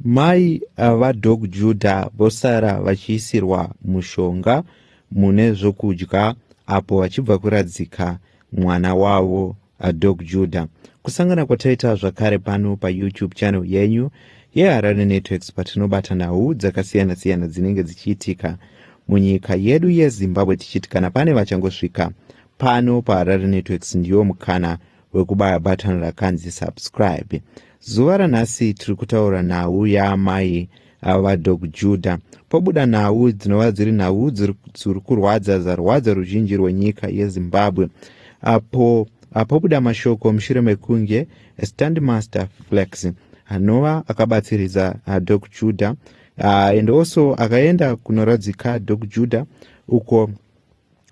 Mai va Doc Judah vosara vachiisirwa mushonga mune zvokudya apo vachibva kuradzika mwana wavo Doc Judah. Kusangana kwataita zvakare pano pa YouTube channel yenyu yeHarare Networks patinobata nhau dzakasiyana siyana dzinenge dzichiitika munyika yedu yeZimbabwe tichiti kana pane vachangosvika pano paHarare Networks ndiwo mukana wekubaya button rakanzi subscribe zuva ranhasi tiri kutaura nhau yaamai ava vadog juda pobuda nhau dzinova dziri nhau dziri kurwadza zarwadza ruzhinji rwenyika yezimbabwe apo apobuda mashoko mushure mekunge standmaster flex anova akabatsiridza ah, dog juda ah, and also akaenda kunoradzika dog juda uko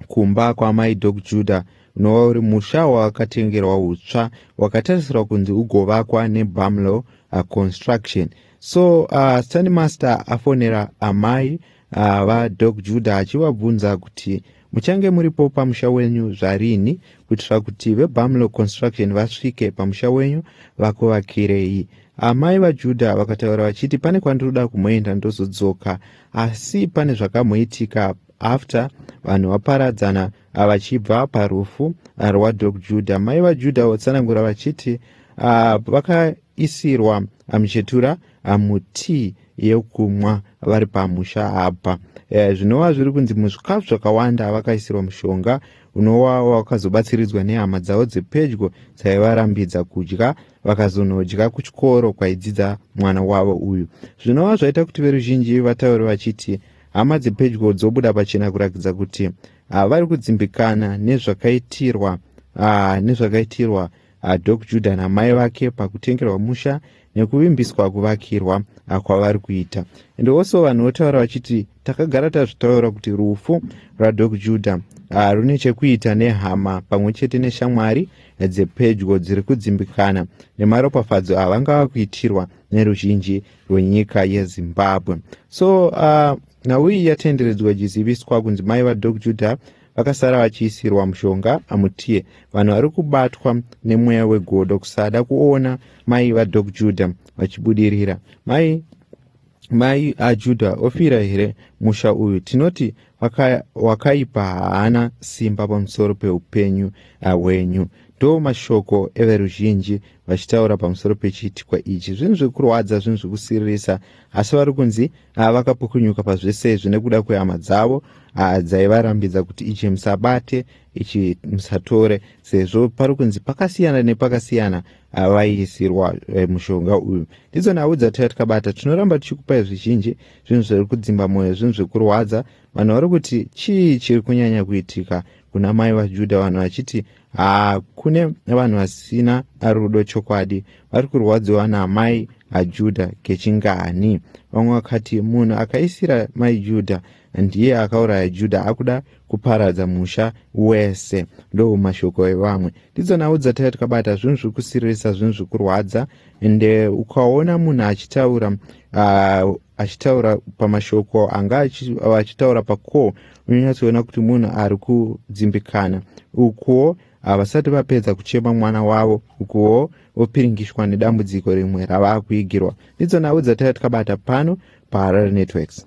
kumba kwaamai dok juda unova uri musha wakatengerwa utsva wakatarisirwa kunzi ugovakwa nebamlo uh, construction so uh, stani master afonera amai uh, vadok juda achivabvunza kuti muchange muripo pamusha wenyu zvarini kuitira kuti vebamlo construction vasvike pamusha wenyu vakuvakirei amai vajudha vakataura vachiti pane kwandinoda kumboenda ndozodzoka asi pane zvakamboitika after vanhu vaparadzana vachibva parufu rwadog juda mai vajuda vatsanangura vachiti ah, vakaisirwa muchetura ah, mutii yekumwa vari pamusha apa eh, zvinova zviri kunzi muzvikafu zvakawanda vakaisirwa mushonga unova wakazobatsiridzwa nehama dzavo dzepedyo dzaivarambidza kudya vakazonodya kuchikoro kwaidzidza mwana wavo uyu zvinova zvaita kuti veruzhinji vataure vachiti Hama dzepedyo dzobuda pachena kurakidza kuti ah, vari kudzimbikana nezvakaitirwa ah, nezvakaitirwa ah, Dok Judah namai vake pakutengerwa musha nekuvimbiswa kuvakirwa ah, kwavari kuita. And also vanhu votaura vachiti takagara tazvitaura kuti rufu rwaDok Judah ah, rune chekuita nehama pamwe chete neshamwari dzepedyo dziri kudzimbikana nemaropafadzo avanga vakuitirwa neruzhinji rwenyika yezimbabwe so uh, nhau iyi yatenderedzwa ichiziviswa kunzi mai vadok judah vakasara vachiisirwa mushonga amutie vanhu vari kubatwa nemweya wegodo kusada kuona mai vadok judah vachibudirira mai mai ajuda ofira here musha uyu tinoti wakaipa haana simba pamusoro peupenyu hwenyu ndo mashoko everuzhinji vachitaura pamusoro pechiitikwa ichi zvinhu zvekurwadza zvinhu zvekusiririsa asi vari kunzi ah, vakapukunyuka pazvese izvi nekuda kwehama dzavo ah, dzaivarambidza kuti ichi musabate ichi musatore sezvo pari kunzi pakasiyana nepakasiyana ah, vaiisirwa eh, mushonga uyu ndidzo nhau dzataiva tikabata tinoramba tichikupai zvizhinji zvinhu zviri kudzimba mwoyo zvinhu zvekurwadza vanhu vari kuti chii chiri kunyanya kuitika kuna mai vajudha vanhu vachiti haa kune vanhu vasina rudo chokwadi vari kurwadziwa naamai ajudha kechingani vamwe vakati munhu akaisira mai judha ndiye akauraya judha akuda kuparadza musha wese ndo mashoko evamwe ndidzo nhau dzataiva tikabata zvinhu zviri kusiririsa zvinhu zviri kurwadza ende ukaona munhu achitaura uh, achitaura pamashoko anga achitaura pacall unonyatsoona kuti munhu ari kudzimbikana ukuwo havasati vapedza kuchema mwana wavo ukuwo vopiringishwa nedambudziko rimwe ravaa kuigirwa ndidzo nhau dzataiva tikabata pano paharare networks